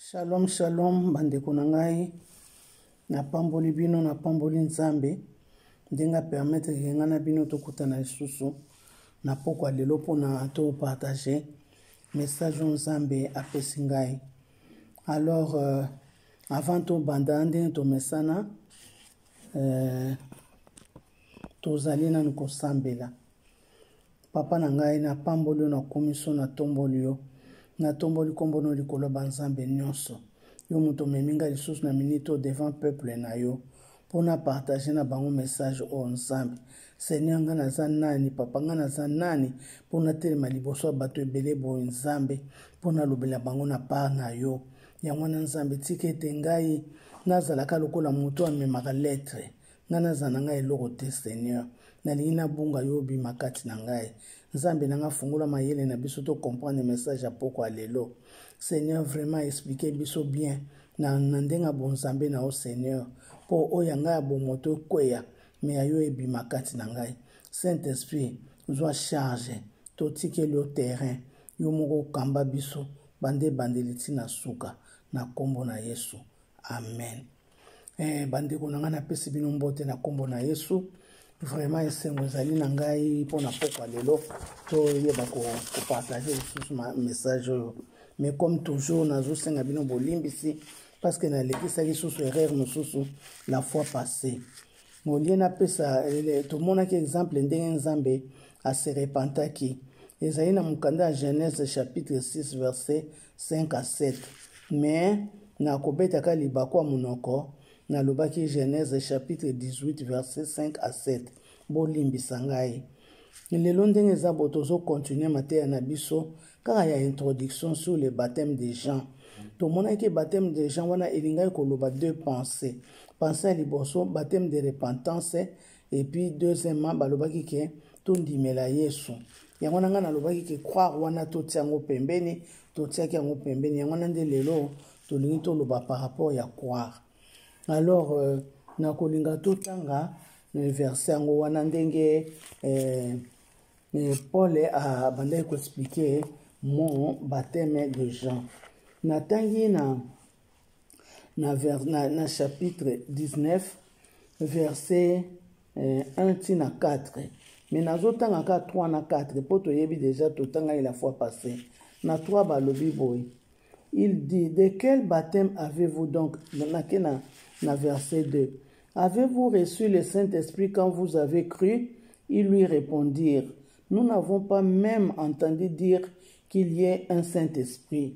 shalom shalom bandeko na ngai napamboli bino napamboli nzambe ndenge apermetre ke ngai na bino tokutana lisusu na pokwa lelo mpona topartage message oyo nzambe apesi ngai alors euh, avant tobanda ndenge tomesana euh, tozali nanu kosambela Papa na ngai, napamboli yo, nakomi so, natomboli yo, natomboli nkombo no likolo ya banzambe nyonso. Yo moto omemi ngai lisusu na minute oyo devant peuple na yo mpo na partage na bango message oyo nzambe seigneur ngai naza nani papa ngai naza nani mpo natelema liboso ya bato ebele boye nzambe mpo nalobela bango na part na yo yango wana nzambe tika ete ngai nazalaka lokola moto amemaka lettre ngai naza na ngai eloko te seigneur nalingi nabunga yo obima kati na ngai nzambe na ngai fungola mayele na biso tocomprendre message ya poko ya lelo seigneur vraiment explike biso bien na, na ndenge ya bonzambe na yo seigneur mpo oyo ya ngai ya bomoto ekweya me ya yo ebima kati na ngai saint esprit zwa charge totikeli yo terrain yo moko okamba biso bande ebandeli ntina suka na nkombo na yesu amen Eh, bandeko na ngai napesi bino mbote na nkombo na yesu vraiment esengo ezali na ngai mpo na pokwa lelo toyeba kopartage lisusu message oyo mais comme toujours nazosenga bino bolimbisi parce que nalekisaki susu erreur mosusu la fois passé molie napesa tomonaki exemple ndenge nzambe aserepentaki ezali na mokanda ya genèse chapitre 6 verset 5 à 7 mais na kobetaka libaku ya monoko nalobaki genèse chapitre 18 verset 5 à 7 bolimbisa ngai lelo ndenge eza bo tozokontinue mateya na biso kaka ya introduction sur le baptême de jean tomonaki baptême de jean wana elingaki koloba deux pensées pensée ya liboso baptême de repentance et puis deuxièmement balobaki ke tondimela yesu yango na ngai nalobaki ke croire wana totia yango pembeni totiaki yango pembeni yango na nde lelo tolingi toloba par rapport ya croire alors euh, nakolinga totanga euh, verse yango wana ndenge euh, euh, paul abandaki koexplike mon bateme de jean natangi na na, vers, na, na chapitre 19 verset eh, 1 ti na 4 me nazotanga ka 3 na 4 mpo toyebi deja totangaki la fois passé na 3 balobi boye il dit de quel baptême avez-vous donc nake na, na verset 2 avez-vous reçu le saint-esprit quand vous avez cru ils lui répondirent nous n'avons pas même entendu dire qu'il y ait un saint-esprit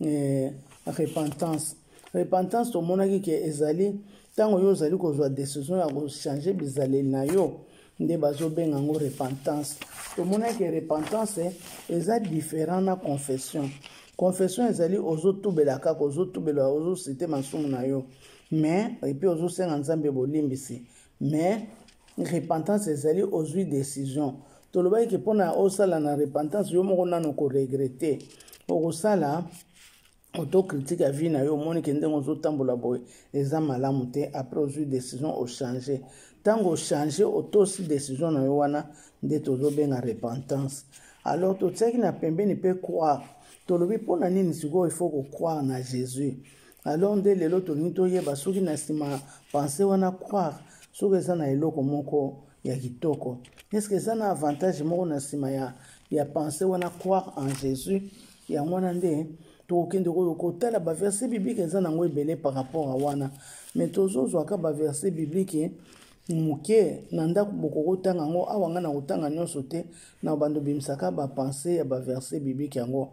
eh, repentance repentance tomonaki ke ezali ntango yo ozali kozwa decision ya kochange bizaleli na yo nde bazobenga yango repentance tomonaki repentance eh, eza différent na confession confession ezali ozotubela kaka ozotubela ozosite masumu na yo mais epuis ozosenga nzambe bolimbisi mais repentance ezali ozwi décision tolobaki ke mpo na osala na repentance yo moko nano koregrete okosala autocritique ya vie na yo omoni ke ndenge ozotambola boye eza malamu te après ozwi décision ochange ntango ochange otosi décision na yo wana nde tozobenga repentance alors totiaki na pembeni mpe croire tolobi mpo na nini sikoyo ifo kocroire na jésus alors nde lelo tolingi toyeba soki na nsima pense wana croire soki eza na eloko moko ya kitoko eske eza na avantage moko na nsima ya, ya pense wana croire en jésus yango wana nde tokokende oyo kotala baverse biblike eza nango ebele par rapport a wana me tozozwaka baverse biblike moke na ndako bokoki otanga yango awa ngai nakotanga nyonso te na bando bimisaka bapense ya baverse biblike yango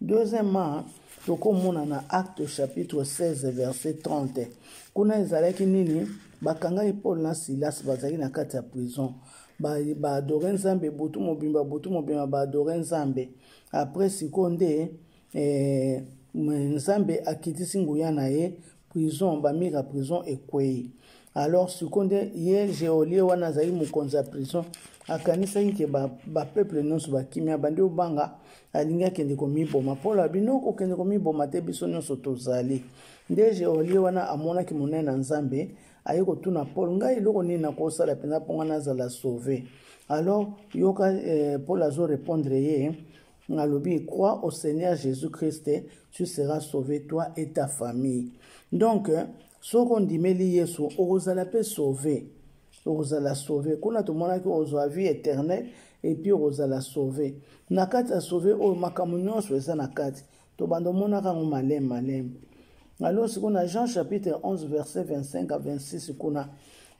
Deuxièmement, tokomona na acte chapitre 16 verset 30 kuna ezalaki nini bakangaki paul na silas bazalaki na kati ya prison baadore ba nzambe butu mobimba butu mobimba baadore nzambe apres sikoyo nde eh, nzambe akitisi nguya na ye prison ba mur ya prison ekwei alors siko nde ye geolie wana azali mokonzi ya prison akanisaki ke bapeuple nyonso bakimi abandi obanga alingi akende komiboma mpo alobi no kokende komiboma te biso nyonso tozali nde geolie wana amonaki monene na nzambe aye kotuna paul ngai eloko nini nakosala mpenza mpo ngai nazala sauve alors yoka eh, paul azorepondre ye nalobi crois au seigneur jésus christ tu seras sauvé toi et ta famille donc soki ondimeli yesu okozala mpe sauve okozala sauve kuna tomonaki ozwa vie éternel epuis okozala sauve na kati ya sauve oyo makambo nyonso eza na kati tobanda omonaka yango maleme maleme alors sikoyo na jean chapitre 11 verset 25 a 26 kuna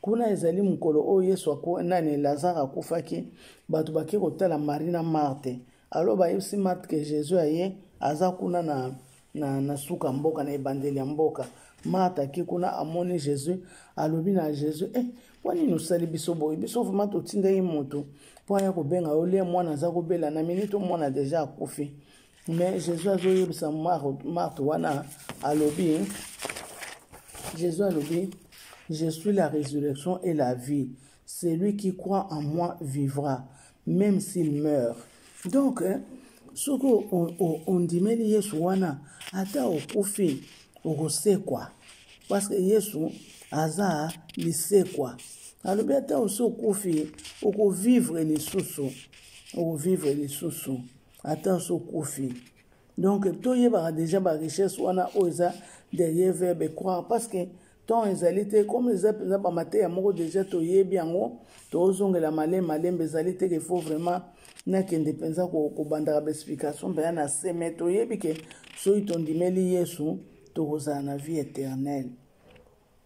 kuna ezali mokolo oyo yesu aku, nani lazare akufaki bato bake kotala marie na marte alo bayebisi marte ke jésus aye aza kuna na, na, na suka mboka na ebandeli ya mboka marte ake kuna amoni jésus alobi na jésus eh, mpo nini osali biso boye biso vrema totindaki moto mpo aya kobenga yo lie mwana aza kobela na miniti mwana deja akufi mais jésus azoyebisa marte wana alobi jésus alobi je suis la résurrection et la vie celui qui croit en moi vivra même s'il meurt donc hein, soki ondimeli yesu wana ata okufi okosekwa parce que yesu aza lisekwa alobi ata osi okufi okovivre lisusu okovivre lisusu ata osi okufi donc toyebaka déjà barichesse wana oyo eza derrière verbe croire parce que temps ezali te comme eza mpenza bamateya moko déjà toyebi yango tozongela malembe malembe ezali te ke faut vraiment nakende mpenza kobandaka baexplication mpenza na se mai toyebi ke soki tondimeli yesu tokozala na vie éternelle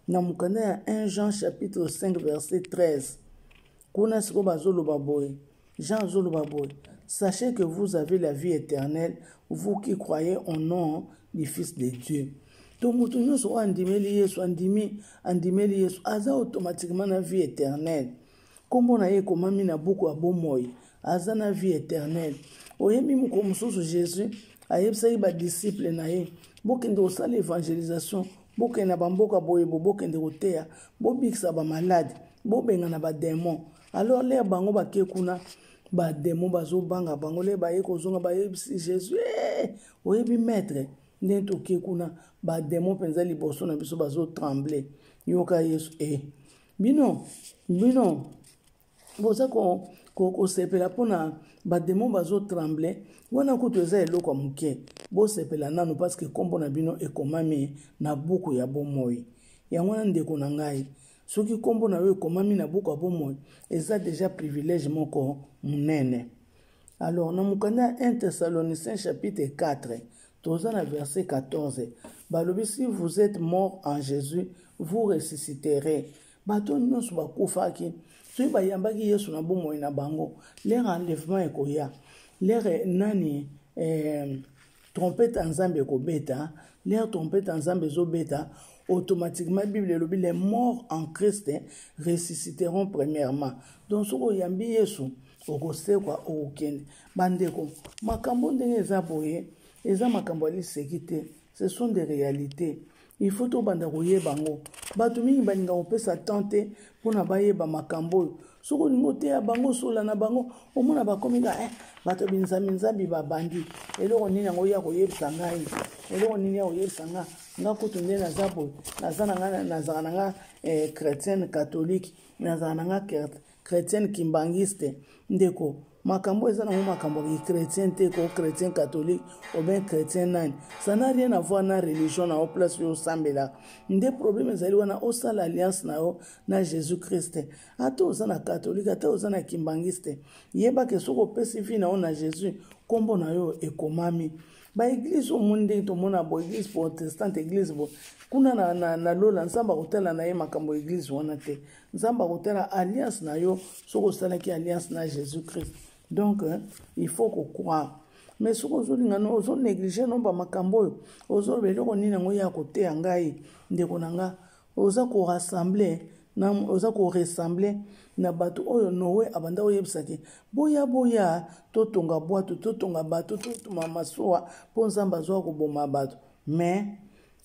na mokanda ya 1 jean chapitre 5 verset 13 kuna sikoyo bazoloba boye jean azoloba boye sachez que vous avez la vie éternelle vous qui croyez au nom du fils de dieu to moto nyonso oyo andimeli yesu andimi andimeli yesu aza automatiquement na vie éternelle Nkombo na ye ekomami na buku ya bomoi. Aza na vie eternelle. Oyebi mokolo mosusu Jésus ayebisaki badisiple na ye, bokende kosala evangelisation, bokende na bamboka boye bo, bokende koteya, bobikisa bamalade, bobengana bademon. Alors lere bango bake kuna, bademon bazobanga bango, lere baye kozonga bayebisi Jésus, hey, eh, oyebi maître ndenge toke kuna, bademon mpenza liboso na biso bazotremble. Yoka Yesu, e. Eh. bino bino boza kosepela ko, ko mpona bademo bazotremble wana kutu eza eloko ya moke bosepela nano parceke nkombo na bino ekomami na buku ya bomoi yango wana ndeko na ngai soki nkombo na yo ekomami na buku ya bomoi eza deja privilège moko monene alors na mokanda ya 1 thessaloniciens chapitre 4 toza na verset 14 balobi si vous êtes mort en jésus vous ressusciterez bato nyonso bakufaki soki bayambaki yesu na bomoi na bango lere enlèvement ekoya lere nani eh, trompete ya nzambe ekobeta lere trompete ya nzambe ezobeta automatiquement bible elobi les morts en christ ressusciteront premièrement donc soki oyambi yesu okosekwa okokende bandeko makambo ndenge eza boye eza makambo ya liseki te ce sont des réalités il faut tobanda koyeba yango bato mingi balinga kopesa temps te mpona bayeba makambo oyo soki olingi oteya bango osola na bango omona bakomi ka eh, bato binzambinzambi babandi eloko nini yango ya koyebisa ngai eloko nini ya koyebisa ngai nga kutu nde naza boye naza na ngai nazala na ngai eh, chrétienne catholique nazala na ngai Chretienne kimbanguiste ndeko makambo eza nango makambo ki chrétien te ko chrétien catholique oben chrétien nani ça n'a rien à voir na religion na yo place oyo osambelaka nde problème ezali wana osala alliance na yo na jésus christ ata oza na catholique ata oza na kimbanguiste yeba ke soki opesi vie na yo na jésus nkombo na yo ekomami baeglize omoni ndenge tomona bo eglize protestante eglize bo kuna na, na, na lola nzambe akotala na ye makambo ya eglize wana te nzambe akotala alliance na yo soki osalaki alliance na jésus christ donc hein, il faut kocroire mais soki ozolinga no ozonéglige nomba makambo oyo ozoloba eloko nini yango ye akoteya ngai ndeko na nga oza korassemble oza koressemble na bato oyo noe abanda oyebisaki boya boya totonga bwato totonga bato totuma masuwa mpo nzambe azwa koboma bato mais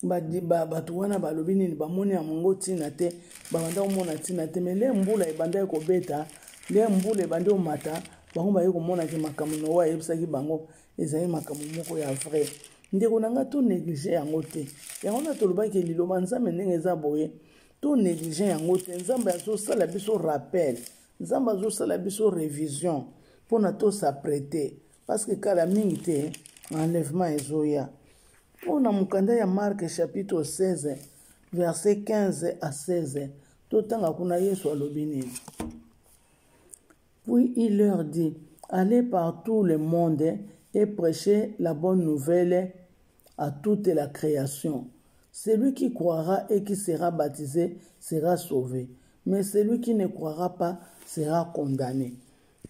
bato wana balobi nini bamoni yango ntina te babanda komona ntina te mai nde mbula ebandaki kobeta nde mbula ebandi komata bango baye komonaki makambo noa ayebisaki bango ezali makambo moko ya vrai ndeko na ngai to néglige yango te yango wana tolobaki liloba nzambe ndenge eza boye to néglige yango te nzambe azosala biso rappel nzambe azosala biso révision mpona tosaprete parce que kala mingi te enlèvement ezoya mpo na mokanda ya marke chapitre 16 verset 15 à 16 totanga kuna yesu alobi nini puis il leur dit allez par tout le monde et prêchez la bonne nouvelle à toute la création celui qui croira et qui sera baptisé sera sauvé mais celui qui ne croira pas sera condamné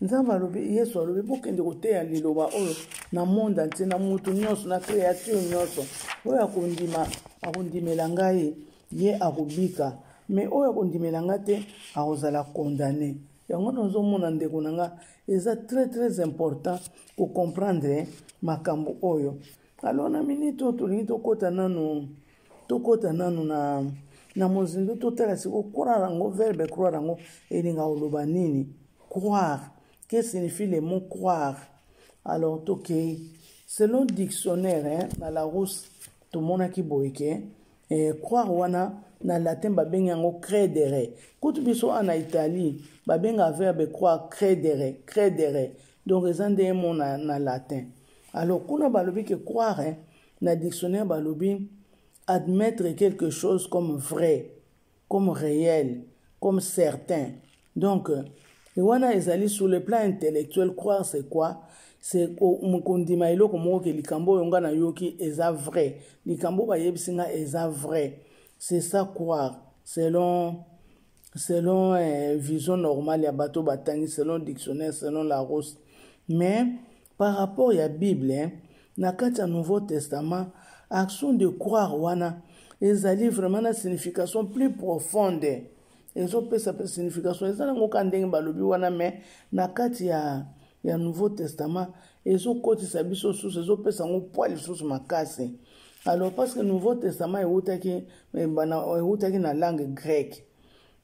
nzambe alobi yesu alobi bokende koteya liloba oyo na monde antie na motu nyonso na créature nyonso oyo akondima akondimela ngai ye akobika me oyo akondimela ngai te akozala condamne yango nazomona ndeko na ngai eza très très important kocomprendre makambo oyo alors na minute oyo tolingi tokɔta nano tokota nanu na na mozindo totala siko croire yango verbe croire yango elinga oloba nini croire que signifie le mot croire alors tokei selon dictionnaire hein, na larousse tomonaki boye ke eh, croire wana na latin babengi yango credere kutu biso wana na italie babenga verbe croire credere credere donc eza nde mo na, na latin alors kuna balobi ke croire hein, Na dictionnaire balobi admettre quelque chose comme vrai, comme réel, comme certain. Donc, wana ezali sur le plan intellectuel croire c'est quoi c'est kondima eloko moko ke likambo oyo nga nayoki eza vrai likambo bayebisi nga eza vrai c'est ça croire selon selon eh, vision normale ya bato batangi selon dictionnaire selon la rose mais Par rapport ya Bible, hein, na kati ya Nouveau Testament, action de croire wana ezali vraiment na signification plus profonde ezopesa mpe signification eza nango ka ndenge balobi wana me na kati ya, ya nouveau testament ezokotisa biso susu ezopesa yango pwa lisusu makasi alors parce que nouveau testament ewutaki eh, ewutaki na langue grecque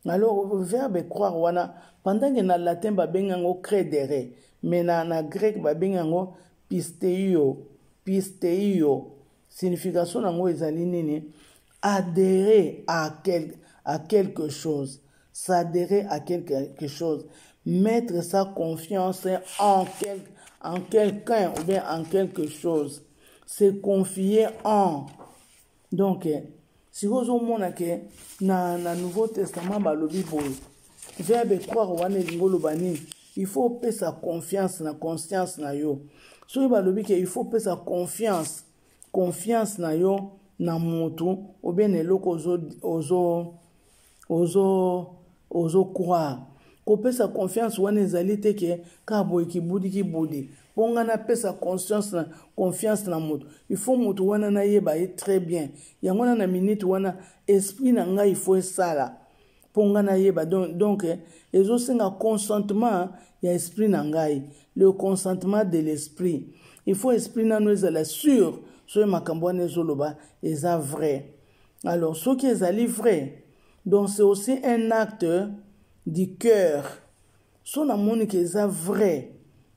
Alors, verbe croire wana, pendant que na latin babengi yango credere, mais na, na grec babengi yango pisteio, pisteio. Signification nango ezali nini? Adhérer à, quel, à quelque chose, s'adhérer à quelque chose, mettre sa confiance en, quel, en quelqu'un ou bien en quelque chose, se confier en, donc sikoyo ozomona ke na, na nouveau testament balobi boye verbe croire wana elingi oloba nini il faut opesa confiance na conscience na yo soki balobi ke il faut opesa confiance confiance na yo na motu obie na eloko ozo, ozo ozo ozo croire kopesa confiance wana ezali te ke kaka boye kibudi kibudi mpo ngai napesa conscience na confiance na moto il faut moto wana nayeba ye très bien yango wana na minute wana esprit na ngai il faut esala mpo ngai nayeba donc, donc eh, ezosenga consentement ya esprit na ngai le consentement de l'esprit il faut esprit nano ezala sur soki makambo wana ezoloba eza vrai alors soki ezali vrai donc c'est aussi un acte du cœur so namoni ke eza vrai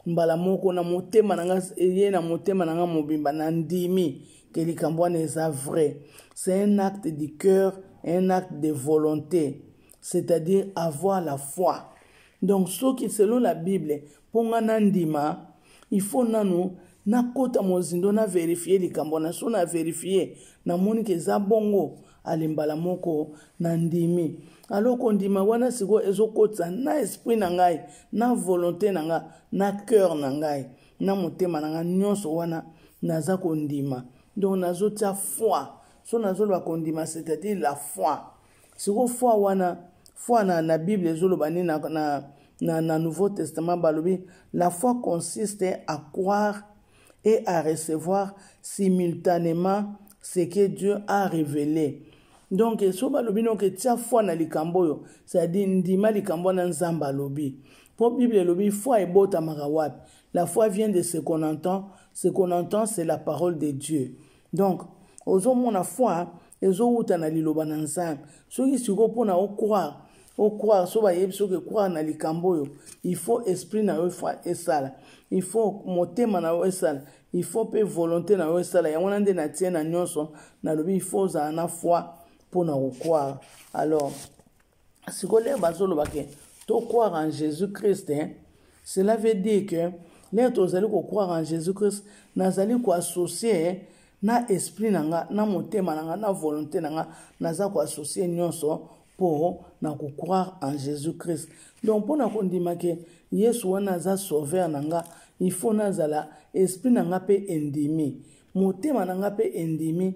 mbala moko na motema na nga eye na motema na nga mobimba na ndimi ke likambo wana eza vrai c'est un acte du cœur un acte de volonté c'est-à-dire avoir la foi donc soki selon la bible Mpo nga na ndima, il faut nanu na kota mozindo na verifier likambo na so na verifier na moni ke eza bongo ale mbala moko na ndimi alors kondima wana siko ezo kotisa na esprit na ngai na volonté na nga na cœur na ngai na motema na nga nyonso wana naza kondima donc nazo tia foi so nazo loba kondima c'est-à-dire la foi siko foi wana foi na, na bible ezoloba nini na, na, na, na nouveau testament balobi la foi consiste à croire et à recevoir simultanément ce que dieu a révélé donc so balobi noke tia foi na likambo oyo c'est-à-dire ndima likambo wana nzambe alobi mpo bible elobi foi ebotamaka wapi la foi vient de ce qu'on entend ce qu'on entend c'est la parole de dieu donc ozomona foi ezowuta na liloba na nzambe soki sikoyo mpona ocroire ocroire so bayebi soki ecroire na likambo oyo il faut esprit na yo esala il faut motema na yo esala il faut mpe volonté na yo esala yango wana nde natie na nyonso nalobi il faut ozala na foi mpo na kokwara alors sikoyo lere bazoloba ke to croire en jésus christ hein? cela veut dire que lere tozali kocroire en jésus christ nazali koassocie hein, na esprit na nga na motema na nga na volonté na nga naza koassocie nyonso mpo na kocroire en jésus christ donc mpo na kondima ke yesu wana aza sauveur na nga il faut nazala esprit na nga mpe endimi motema na nga mpe endimi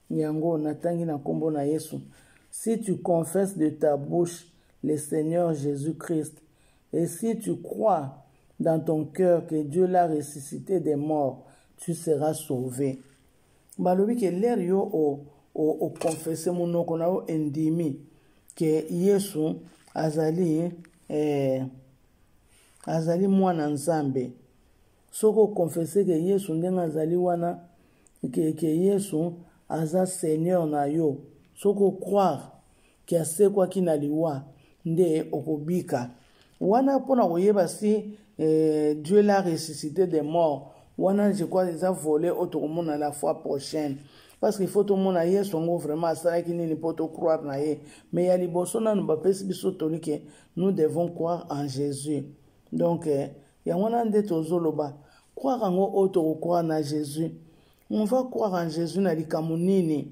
yango natangi na nkombo na yesu si tu confesse de ta bouche le seigneur jésus christ et si tu crois dans ton cœur que dieu l'a ressuscité des morts tu seras sauvé balobi ke lere yo okonfese o, o monoko na yo endimi ke yesu azali eh, azali mwana nzambe soki okonfese ke yesu ndenge azali wana ke, ke yesu aza seigneur na yo soki ocroire ke asekwaki na liwa nde okobika wana mpo na koyeba si eh, dieu la ressuscité des morts wana je crois eza vole oyo tokomona la fois prochaine parce que faut tomona yesu yango vraiment asalaki nini mpo tocroire na ye mais ya liboso nanu bapesi biso toli ke nous devons croire en jésus donc eh, yango wana nde tozoloba croire yango oyo tokocroire na jésus on va croire en jésus na likambo nini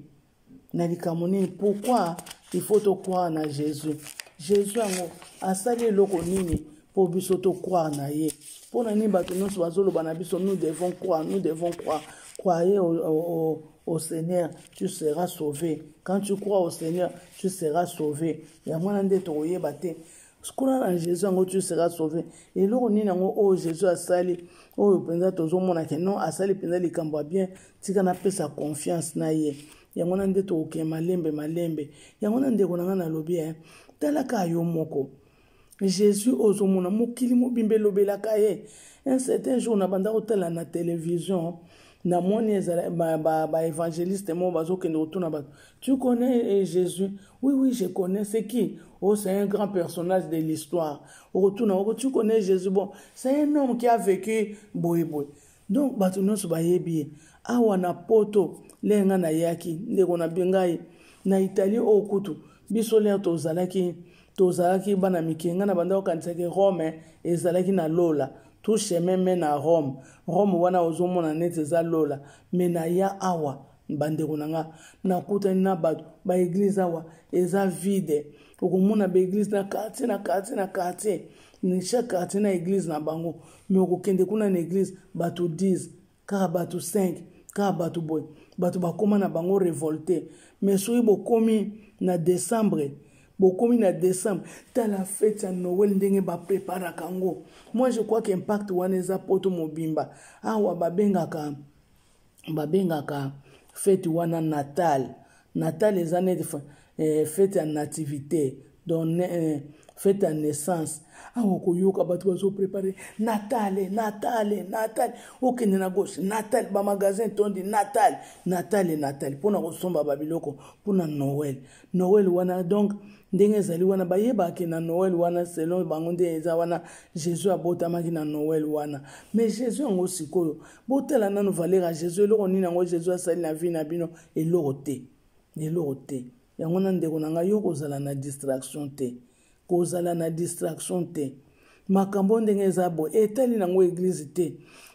na likambo nini pourquoi il faut tocroire na jésus jésus yango asali eloko nini mpo biso tocroire na ye mpo na nini bato nyonso bazoloba na biso nous devons croire nous devons croire croyez au, au, au, au seigneur tu seras sauvé quand tu crois au seigneur tu seras sauvé yango wana nde tokoyeba te sikona na jésus yango tu sera sauve eloko nini yango oyo oh, jésus asali oyo oh, mpenza tozomona ke non asali mpenza likambo ya bien tika napesa confiance na ye yango wana nde tokokende malembe malembe yango wana ndeko na ngai nalobi e talaka yo moko jésus oyo ozomona mokili mobimba elobelaka ye un certain jour na banda kotala na télévision eh, namoni ezala baevangeliste ba, ba moko bazokende kotuna bato tu connais eh, jésus oui oui je connais c'est qui oh c'est un grand personnage de l'histoire okotuna oko tu connais jésus bon c'est un homme qui a vécu boye boye donc bato nyonso bayebi ye awa na poto leye ngai nayaki ndeko na ngai na italie oyo kutu biso lere tozalaki tozalaki bana mike ngai na bandaki okanisaki rome ezalaki na lola tout chemin mène à Rome Rome wana ozomona neti eza lola mais naya awa bandeko na nga nakutani na bato baeglize awa eza vide okomona baeglize na quartier na quartier na quartier chaque quartier na eglize na bango mais okokende kuna na eglize bato 10 kaka bato 5 kaka bato boye bato bakoma na bango revolte mais soki bokomi na décembre bokomi na décembre tala fete ya noel ndenge bapreparaka yango moi je crois que impact wana eza poto mobimba awa babengaka babengaka fete wana natal Natal eza neti eh, fete ya nativite donc eh, fete ya naissance awa koyoka bato bazoprepare natale natale natale okende na gauche natale bamagasin tondi natale natale natale mpo na kosomba babiloko mpo na noel noel wana donc ndenge ezali wana bayebaki na noel wana selon bango nde eza wana jésus abotamaki na noel wana mais jésus yango sikoyo botala nano valeur ya jésus eloko nini yango jésus asali na vie na bino eloko te eloko te yango na ndeko na ngai yo kozala na distraction te kozala na distraction te makambo ndenge eza boye etali nango eglize te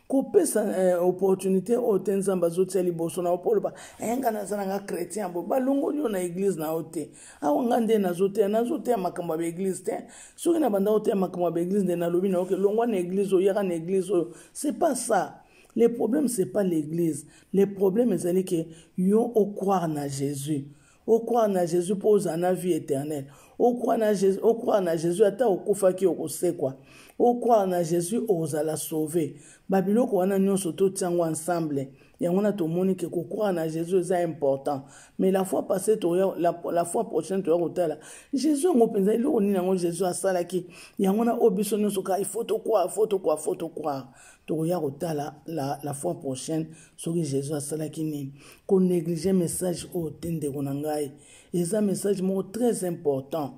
kopesa eh, opportunité oyo te nzambe azotia liboso na yo mpo oloba eh, nga naza na nga chrétien boye balongoli yo na eglize na yo te awa nga nde nazoteya nazoteya makambo ya baeglize te soki na banda oteya makambo ya baeglize nde nalobi na yo ke longwa na eglize oyo yaka na eglize oyo c'est pas ça le problème c'est pas l'église Le problème ezali ke yo o croire na Jesus. O croire na Jesus mpo ozala na vie éternelle. O croire na Jesus, o croire na Jesus ata okufaki okosekwa. O croire na Jesus ozala sauver. Ba biloko wana nyonso totia yango ensemble. Yango na tomoni ke ko croire na Jesus eza important. Mais la fois passée toya la, la fois prochaine toya kotala Jesus yango mpenza eloko nini yango Jesus asalaki. Yango na o biso nyonso ka il faut to croire, faut to croire, faut to croire. tokoya kotala la, la fois prochaine soki jésus asalaki nini konéglige message oyo te ndeko na ngai eza message moko très important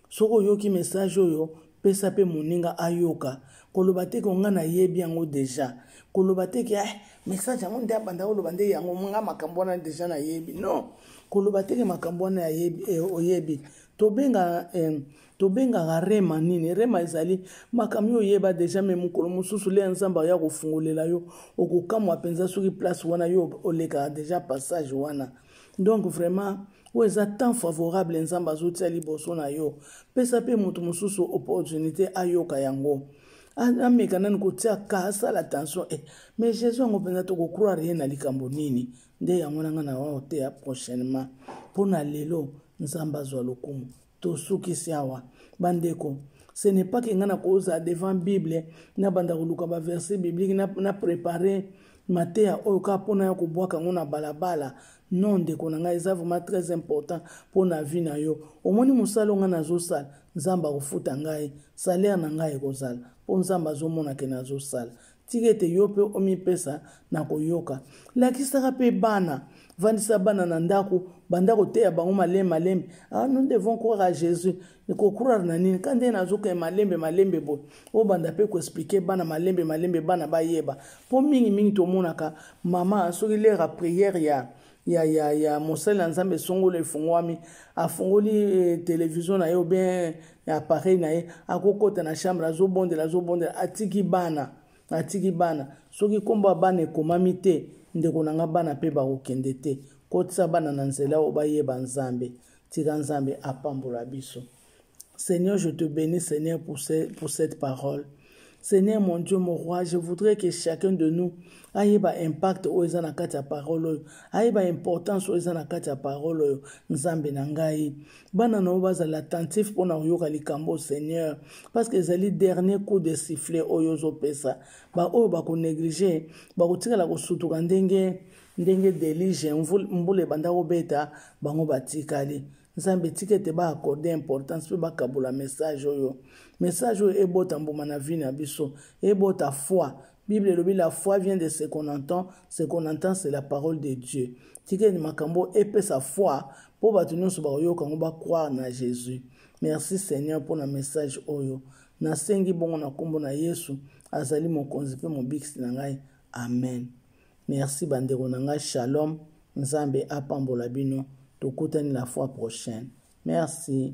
soki oyoki message oyo pesa mpe moninga ayoka koloba te ke ngai nayebi yango deja koloba te ke eh, message yango nde abanda koloba nde yango nga makambo wana deja nayebi non koloba te ke makambo wana eh, oyebi tobenga eh, tobengaka rema nini rema ezali makambo yo oyeba deja me mokolo mosusu le ya nzambe aya kofungolela yo okokamwa mpenza soki place wana yo olekaka deja passage wana donc vraiment oyo eza temps favorable nzambe azotia liboso na yo pesa mpe moto mosusu opportunité ayoka yango ameka nani kotia ka asala attention e eh, mais jésus yango mpenza tokocroire ye na likambo nini nde yango na ngai na oyo te ya prochainement mpo na lelo nzambe azwa lokumu tosukisi awa bandeko ce n'est pas ke ngai nakozala devant bible nabanda koluka baverset biblique na, na prépare mateya oyo kaka mpo na ya kobwaka yango na balabala non ndeko na ngai eza vraiment très important mpo na vie na yo omoni mosala o ngai nazosala nzambe akofuta ngai salaire na ngai ekozala mpo nzambe azomonake nazosala tika ete yo mpe omipesa na koyoka lakisaka mpe bana vandisa bana na ndako banda koteya bango malembe malembe ah, nous devons croire à jésus kokurare na nini ka ndenge nazokende malembe malembe boye obanda mpe koexplike bana malembe malembe bana bayeba mpo mingimingi tomonaka mama soki lere ya priere ya ya ya ya mosali na nzambe esongolo efungwami afungoli eh, televizio na ye obien appareil na ye akokɔta na chambre azobondela azobondela atiki bana atiki bana soki nkombo ya bana ekomami te ndeko na nga bana mpe bakokende te kotisa bana na nzela oyo bayeba nzambe tika nzambe apambola biso Seigneur, je te bénis, Seigneur, pour, ce, pour cette parole. Seigneur, mon Dieu, mon roi, je voudrais que chacun de nous aille ba impact oyo eza na kati ya parole oyo aye ba importance oyo eza na kati ya parole oyo nzambe na ngai bana na yo bazala attentif mpo na koyoka likambo seigneur parce que ezali dernier coup de sifflet oyo ozopesa baoyo bakonéglige bakotikala kosutuka ndenge ndenge delige mbula ebanda kobeta bango batikali nzambe tika ete ba accorde importance mpe bakabola message oyo message oyo ebota mbuma na vie na biso ebota foi bible elobi la foi vient de ce qu'on entend ce qu'on entend c'est la parole de dieu tika ete makambo epesa foi mpo bato nyonso bakoyoka yango bacroire na jésus merci seigneur mpo na message oyo nasengi bongo na nkombo na yesu azali mokonzi mpe mobikisi na ngai amen merci bandeko na ngai shalom nzambe apambola bino tokutani la fois prochaine merci